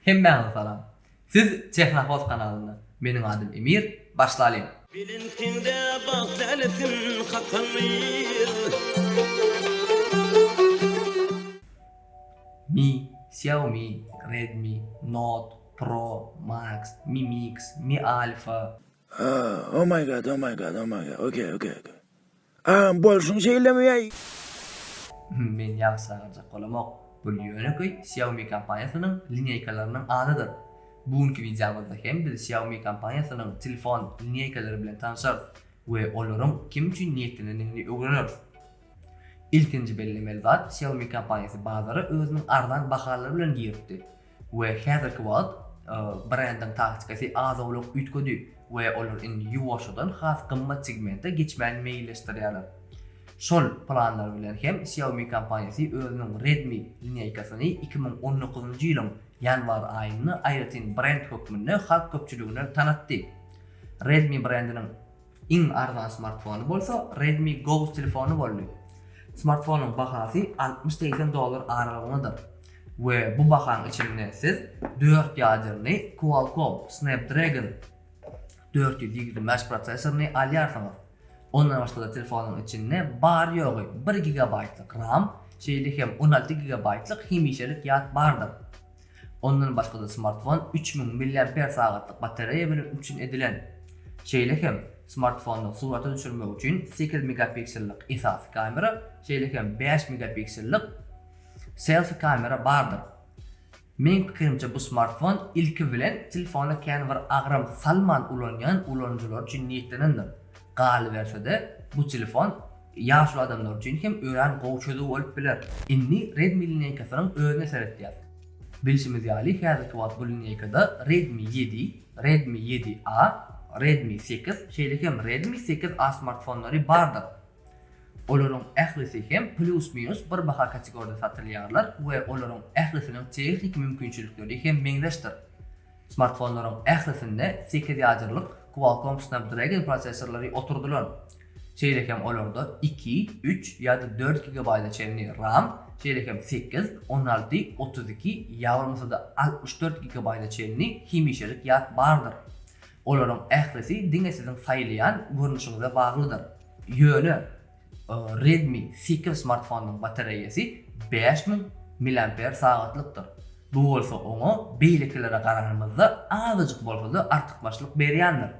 Hemmäňize salam. Siz Tehnohoz kanalynda. Meniň adym Emir. Başlalyň. Belentinde bagt lälesin kakan bir. Mi, Xiaomi, Redmi, Note, Pro, Max, Mi Mix, Mi Alpha. Haa, oh my god, oh my god, oh my god, okay, okay, okay. Agam bolşuň şeýlemeyäý. Men ýagşy saýgarjak bolamok. Bul ýönekeý Xiaomi kompaniýasynyň lineýkalarynyň adydyr. Bu günki wideomyzda hem biz Xiaomi kompaniýasynyň telefon lineýkalary bilen tanşarys we olaryň kim üçin niýetlenendigini öwreneris. Ilkinji bellemeli zat Xiaomi kompaniýasy bazara özüniň arzan bahalary bilen giripdi. we häzirki wagt brendiň taktikasy az-owlak üýtgedi we olar indi ýuwaşjadan has gymmat segmente geçmäni meýilleşdirýärler. Şol planlar bilen hem Xiaomi kompaniýasy özüniň Redmi lineýkasyny iki müň on dokuzynjy ýylyň ýanwar aýynda aýratyn brend hökmünde halk köpçüligine tanatdy. Redmi brendiniň. Iň arzan smartfony bolsa Redmi Go telefony boldy. Smartfonyň bahasy altmyş-segsen dollar aralygyndadyr we bu bahaň içinde siz dört ýadernli Qualcomm Snapdragon dört ýüz ýigrimi bäş prosessoryny alýarsyňyz. Ondan başga-da telefonyň içinde bary-ýogy bir gigabaýtlyk RAM, şeýle hem on alty gigabaýtlyk hemişelik ýat bardyr. Ondan başga-da smartfon üç müň milliamper sagatlyk batareýa bilen üpjün edilen. Şeýle hem, smartfonda surata düşürmek üçin sekiz megapiksellik esasy kamera, şeýle hem bäş megapiksellik selfi kamera bardyr. Meň pikirimçe bu smartfon ilki bilen telefona kän bir agram salman ulanýan ulanyjylar üçin niýetlenendir. Galyberse-de, bu telefon ýaşuly adamlar üçin hem örän gowy çözüw bolup biler. Indi Redmi lineýkasynyň özüne seretýäs. Bilşimiz ýaly, häzirki wagt bu lineýkada Redmi ýedi, Redmi ýedi A, Redmi sekiz, şeýle hem Redmi sekiz A smartfonlary bardyr. Olaryň ählisi hem plýus-minus bir baha kategoriýada satylýarlar we olaryň ählisiniň tehniki mümkinçilikleri hem meňzeşdir. Smartfonlaryň ählisinde sekiz ýadyrylyk Qualcomm Snapdragon prosessorlary oturdylan. Şeýle hem olarda iki, üç ýa-da dört gigabaýta çenli ram, şeýle hem sekiz, on alty, otuz iki ýa bolmasa-da altmyş dört gigabaýta çenli hemişelik ýat bardyr. Olaryň ählisi diňe siziň saýlaýan görnüşiňize baglydyr. Ýöne, Redmi Seeker smartfonynyň batareýasy bäş müň milliamper sagatlykdyr. Bu bolsa oňa beýlekilere garanymyzda azajyk bolsa-da artykmaçlyk berýändir.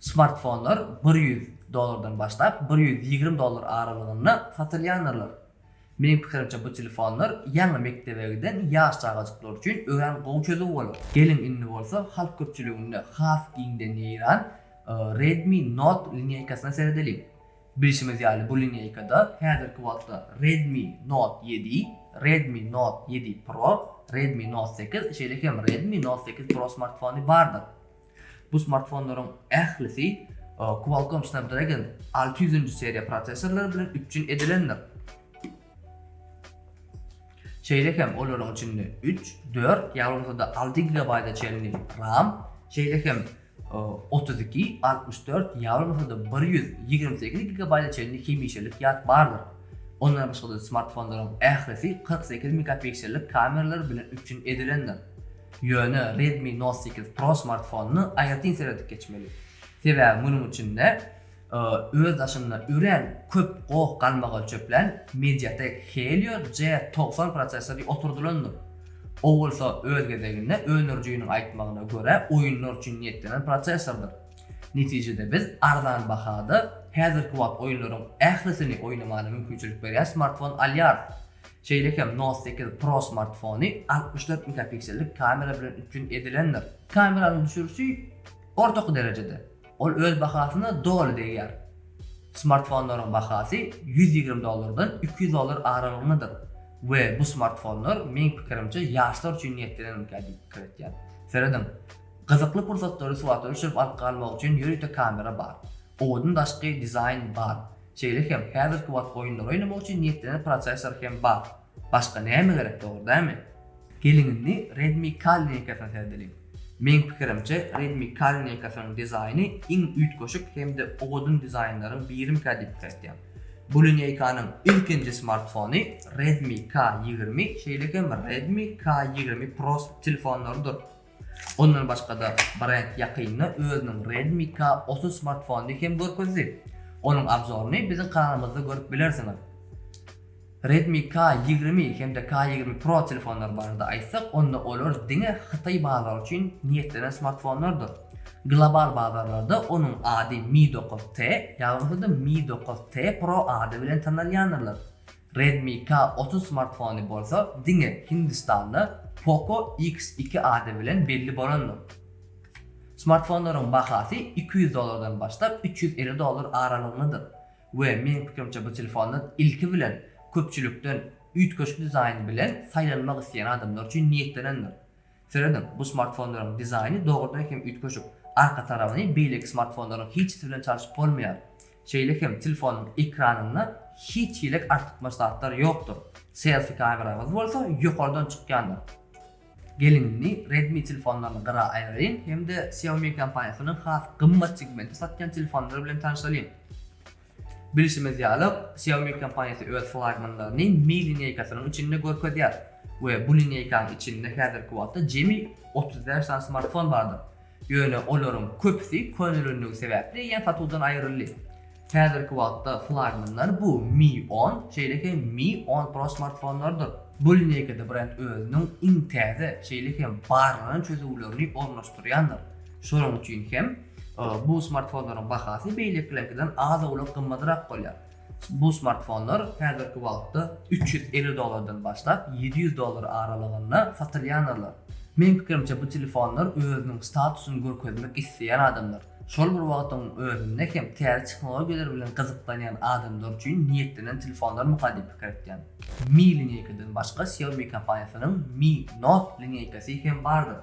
Smartfonlar bir ýüz dollardan başlap bir ýüz ýigrimi dollar aralygynda satylýandyrlar. Meniň pikirimçe bu telefonlar ýaňy mekdebe giden ýaş çagajyklar üçin örän gowy çözüw bolar. Geliň indi bolsa halk köpçüliginde has giňden ýaýran Redmi Note linýaýkasyna seredeliň. Bilşimiz ýaly, bu lineýkada häzirki wagtda Redmi Note ýedi, Redmi Note ýedi Pro, Redmi Note sekiz, şeýle hem Redmi Note sekiz Pro smartfony bardyr. Bu smartfonlaryň ählisi Qualcomm Snapdragon alty ýüzünji seriýa prosessorlary bilen üpjün edilendir. Şeýle hem olaryň içinde üç, dört ýa bolmasa-da alty gigabaýta çenli RAM, şeýle hem otuz iki, altmyş dört, ýa bolmasa-da bir ýüz ýigrimi sekiz gigabaýta çenli hemişelik ýat bardyr. Ondan başga-da smartfonlaryň ählisi kyrk sekiz megapiksellik kameralar bilen üpjün edilendir. Ýöne Redmi Note sekiz Pro smartfonyny aýratyn seredip geçmeli. Sebäbi munuň içinde Öz daşynda örän köp goh galmagal çöpläň Mediatek Helio G togsan prosessori oturdylandyr. O bolsa öz gezeginde öndürijiniň aýtmagyna görä oýunlar üçin niýetlenen prosessordyr. Netijede biz arzan bahada häzirki wagt oýunlaryň ählisini oýnamaga mümkinçilik berýän smartfon alýarys. Şeýle hem Note sekiz Pro smartfony altmyş dört megapiksellik kamera bilen üpjün edilendir. Kameranyň düşürişi ortaky derejede. Ol öz bahasyna doly degýär. Smartfonlaryň bahasy ýüz ýigrimi dollardan iki ýüz dollar aralygyndadyr we bu smartfonlar, meň pikirimçe, ýaşlar üçin niýetlenenmikä diýip pikir etýän. Serediň, gyzykly pursatlary surata düşürip alyp galmak üçin ýörite kamera bar. Owadan daşky dizaýn bar. Şeýle hem häzirki wagt oýunlary oýnamak üçin niýetlenen prosessor hem bar. Başga näme gerek dogry dämi? Geliň indi Redmi Ka lineýkasyna seredeliň. Meň pikirimçe Redmi Ka lineýkasynyň dizaýny iň üýtgeşik hem-de owadan dizaýnlaryň birimikä diýip pikir etýän. Bu lineýkanyň ilkinji smartfony Redmi Ka ýigrimi şeýle hem Redmi Ka ýigrimi Pro telefonlarydyr. Ondan başga-da, brend ýakynda özüniň Redmi K otuz smartfonyny hem görkezdi. Onuň abzoryny biziň kanalymyzda görüp bilersiňiz. Redmi K ýigrimi hem-de K ýigrimi Pro telefonlary barada aýtsak, onda olar diňe hytaý bazary üçin niýetlenen smartfonlardyr. Global bazarlarda onuň ady Mi dokuz T, ýaglasa-da Mi dokuz T Pro ady bilen tanalýandyrlar. Redmi K otuz smartfony bolsa diňe Hindistanda Poco X iki ady bilen belli bolandyr. Smartfonlaryň bahasy iki ýüz dollardan başlap üç ýüz elli dollar aralygyndadyr we meň pikirimçe bu telefonlar ilki bilen köpçülikden üýtgeşik dizaýn bilen saýlanmak isleýän adamlar üçin niýetlenendir. Serediň, bu smartfonlaryň dizaýny dogrudan hem üýtgeşik, arka tarabyny beýleki smartfonlaryň hiçisi bilen çalşyp bolmaýar. Şeýle hem telefonyň ekranynda hiç hilik artykmaç zatlar ýokdur. Selfi kameramyz bolsa ýokardan çykýandyr. Geliň indi Redmi telefonlaryny gyra aýyraýyn hem-de Xiaomi kompaniýasynyň has gymmat segmente satýan telefonlary bilen tanyşalyň. Bilşimiz ýaly, Xiaomi kompaniýasy öz flagmanlaryny Mi lineýkasynyň içinde görkezýär we bu lineýkanyň içinde häzirki wagtda jemi otuz bäş sany smartfon bardyr. Ýöne olaryň köpüsi könelenligi sebäpli ýa satuwdan aýryldy. Häzirki wagtda flagmanlar bu Mi on, şeýle hem Mi on Pro smartfonlarydyr. Bu lineýkada brend özüniň iň täze, şeýle hem barlanan çözüwlerini ornaşdyrýandyr. Şonuň üçin hem bu smartfonlaryň bahasy beýlekileriňkiden az-owlak gymmadrak bolýar. Bu smartfonlar häzirki wagtda üç ýüz elli dollardan başlap, ýedi ýüz dollar aralygynda satylýanarlar. Meniň pikirimçe, bu telefonlar özüniň statusyny görkezmek isleýän adamlar, şol bir wagtyň özünde hem täze tehnologiýalar bilen gyzyklanýan adamlar üçin niýetlenen telefonlarmyka diýip pikir etýän. Mi lineýkadan başga Xiaomi kompaniýasynyň Mi Note lineýkasy hem bardyr.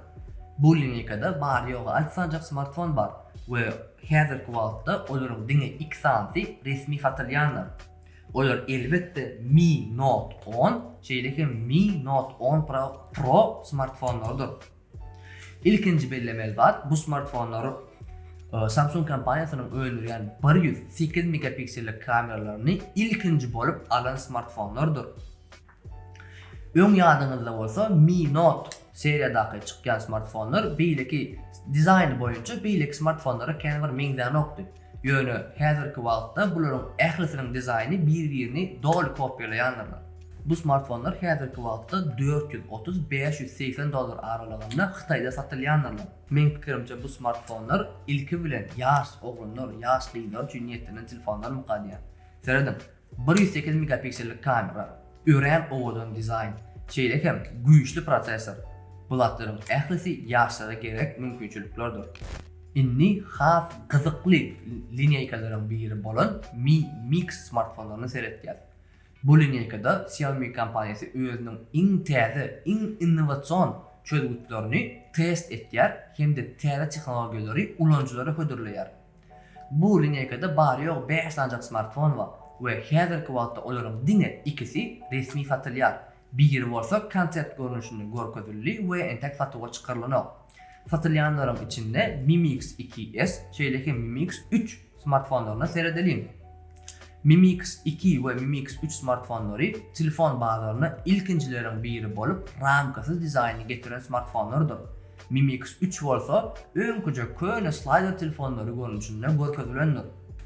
Bu lineýkada bary-ýogy alty sanjak smartfon bar we häzirki wagtda olaryň diňe iki sanysy resmi satylýandyr. Olar elbetde Mi Note on, şeýle hem Mi Note on Pro smartfonlarydyr. Ilkinji bellemeli zat, bu smartfonlar Samsung kompaniýasynyň öndürýän bir ýüz sekiz megapiksellik kameralaryny ilkinji bolup alan smartfonlarydyr. Öň ýadyňyzda bolsa Mi Note seriýadaky çykýan smartfonlar beýleki dizaýny boýunça beýleki smartfonlara kän bir meňzänokdy. Ýöne häzirki wagtda bularyň ählisiniň dizaýny bir-birini doly kopýalaýandyrlar. Bu smartfonlar häzirki wagtda dört ýüz otuz, bäş ýüz segsen dollar aralygynda Hytaýda satylýandyrlar. Meň pikirimçe bu smartfonlar ilki bilen ýaş oglanlar, ýaş gyzlar üçin niýetlenen telefonlarmyka diýýän. Serediň, Bir ýüz sekiz megapiksellik kamera, örän owadan dizaýn, şeýle hem güýçli prosessor, bularyň ählisi ýaşlara gerek mümkinçiliklerdir. Indi has gyzykly lineýkalaryň biri bolan Mi Mix smartfonlaryna seretýäs. Bu lineýkada Xiaomi kompaniýasy özüniň iň täze, iň innowasion çözgütlerini test etýär hem-de täze tehnologiýalary ulanyjylara hödürleýär. Bu lineýkada bary-ýogy bäş sanjak smartfon bar we häzirki wagtda olaryň diňe ikisi resmi satylýar, biri bolsa konsept görnüşinde görkezildi we entek satuwa çykarylanok. Satylýanlaryň içinde Mi Mix iki S, şeýle hem Mi Mix üç smartfonlaryna seredeliň. Mi Mix iki we Mi Mix üç smartfonlary telefon bazaryna ilkinjileriň biri bolup, ramkasyz dizaýny getiren smartfonlardyr. Mimix üç bolsa öňküje köne slaýder telefonlary görnüşinde görkezilendir.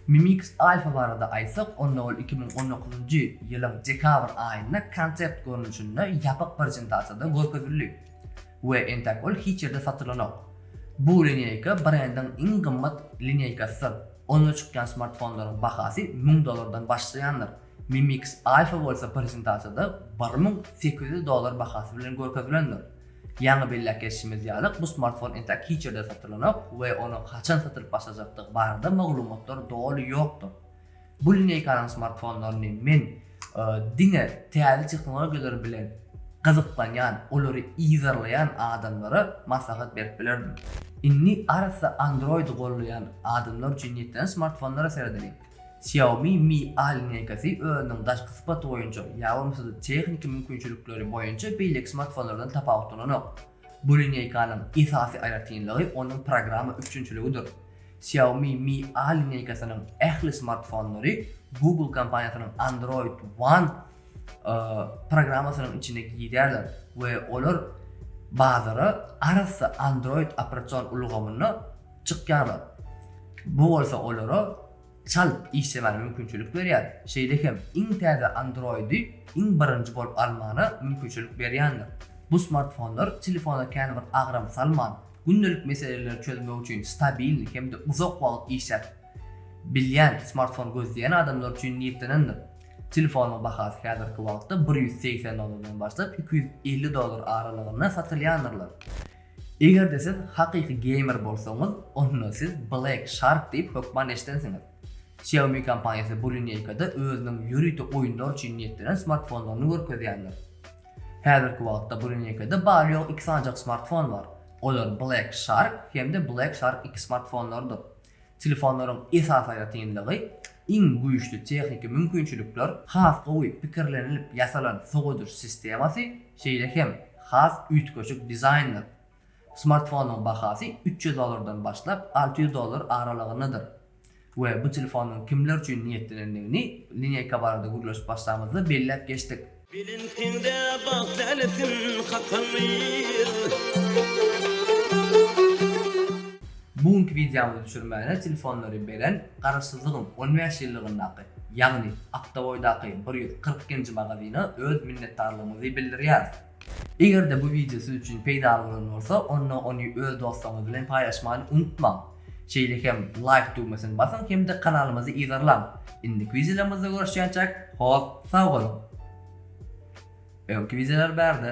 Mimix Alpha barada aýtsak, onda ol iki müň on dokuzynjy ýylyň dekabr aýynda konsept görnüşinde ýapyk prezentasiýada görkezildi we entek ol hiç ýerde satylanok. Bu lineýka brendiň iň gymmat lineýkasydyr, onda çykýan smartfonlaryň bahasy müň dollardan başlaýandyr, Mimix Alpha bolsa prezentasiýada bir müň sekiz ýüz dollar bahasy bilen görkezilendir. Ýaňy belläp geçişimiz ýaly, bu smartfon entek hiç ýerde satylanok we onuň haçan satylyp başlajakdygy barada maglumatlar doly ýokdur. Bu lineýkanyň smartfonlaryny men diňe täze tehnologiýalar bilen gyzyklanýan, olary yzarlaýan adamlara maslahat berip bilerdim. Indi arassa Android-y gollaýan adamlar üçin niýetlenen smartfonlara seredeliň. Xiaomi Mi A linýaýkasy özüniň daşky sypaty boýunça ýa bolmasa-da tehniki mümkinçilikleri boýunça beýleki smartfonlardan tapawutlananok. Bu linýaýkanyň esasy aýratynlygy onuň programma üpjünçiligidir. Xiaomi Mi A linýaýkasynyň ähli smartfonlary Google kompaniýasynyň Android One programmasynyň içine girýärler we olar bazara arassa Android operasion ulgamyny çykýarlar. Bu bolsa olara çalt işlemäne mümkinçilik berýär, şeýle hem iň täze Android-i iň birinji bolup almana mümkinçilik berýändir. Bu smartfonlar telefona känbir agram salman, gündelik meseleleri çözmek üçin stabilni hem-de uzak wagt işläp bilýän smartfon gözleýän adamlar üçin niýetlenendir. Telefonyň bahasy häzirki wagtda bir ýüz segsen dollardan başlap iki ýüz elli dollar aralygynda satylyandyrlar. Eger-de siz hakyky geýmer bolsaňyz, onda siz Black Shark diýip hökman eşidensiňiz. Xiaomi kompaniýasy bu lineýkada özüniň ýörite oýunlar üçin niýetlenen smartfonlaryny görkezýändir. Häzirki wagtda bu lineýkada bary-ýogy iki sanjak smartfon bar. Olar Black Shark hem-de Black Shark iki smartfonlarydyr. Telefonlaryň esasy aýratynlygy, iň güýçli tehniki mümkinçilikler, has gowy pikirlenilip ýasalan sowadyş sistemasy, şeýle hem has üýtgeşik dizaýndyr. Smartfonyň bahasy üç ýüz dollardan başlap alty ýüz dollar aralygyndadyr we bu telefonyň kimler üçin niýetlenendigini lineýka barada gürleşip başlamyzda belläp geçdik. Belentinde bagt älesin hakamyr. Bu günki wideomyzy düşürmäne telefonlary beren Garaşsyzlygyň on bäş ýyllygyndaky, ýagny Akdaboýdaky bir ýüz kyrk nji magazyna öz minnetdarlygymyzy bildirýäris. Eger-de bu wideo siz üçin peýdaly bolan bolsa, onda ony öz dostlaryňyz bilen paýlaşmany unutmaň! Şeýle hem Like düwmesini basyň hem-de kanalymyzy yzarlaň. Indiki wideolarymyzda görüşýänçäk hoz sag boluň. Öňki wideolar bärde.